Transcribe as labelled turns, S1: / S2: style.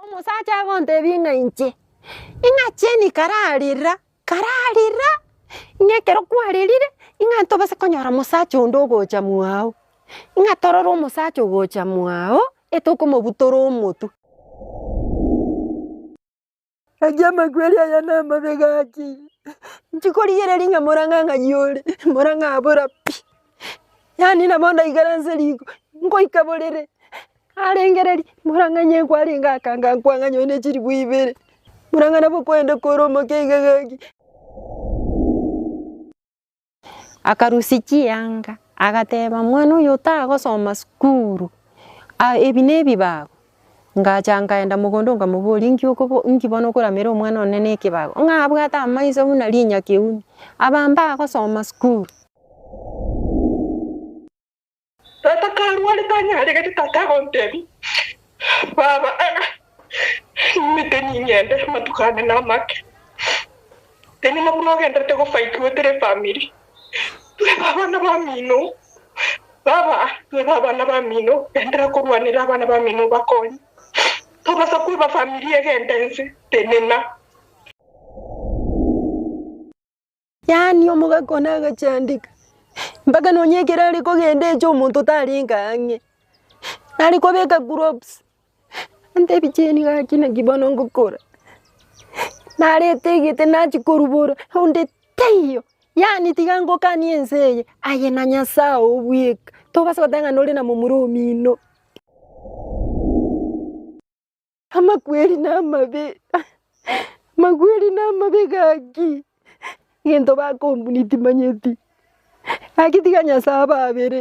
S1: Omosacha agontebia ng'a inche, ing'a cheni kararira, kararira, ing'a ekero kwarerire ing'a ntobase konyora mosacha onde ogocha mwago, ing'a torore omosacha ogocha mwago etokomobutora omotwe. Gaki amakweri aya namabe gaki, nchikorigereria ng'a morang'ang'ani ore, morang'abora pi, yaani nabo ndaikaranse riko, ngoika borere, Arengereria, Murang'anye nkwarenge aka nga nkwang'anya oyo ne chiribu ibere. Murang'ana bokwende kore omoke iga gaki. Akarusia chianga agateba mwana oyo otagosoma sukuru ebi ne ebibago. Ngacha nkaenda mogondo nkamoboria inki inki bono okoramera omwana one ne ekebago? Ng'a abwate amaiso buna rinyakeuni, aba mbagosoma sukuru.
S2: Tata karware tanyare gete tata agontebia, Baba, nimete ning'ende, amatuko ane namake. Enyuma buna ogenderete gofaiti goetera efamiri, Twebe abana bamino, baba, twebe abana bamino, gendera korwanera abana bamino obakonye. Tobasa kweba famiri egende ense, tenena.
S1: Yaani omogaka one agachandeka, mpaka nonya ekero are kogenda eche omonto otarenge ang'e, nare kobeka groups, antebie Jane gaki naki bono ngokora, narete egete nachia korubora, onde taiyo, yaani tiga ngokanie ense eye, aye na Nyasaye oo bweka, tobasa goteba ng'a nore na momura omino. Amakweri namabe, amakweri namabe gaki, egento bakombuni timanyeti, gaki tiga Nyasae ababere.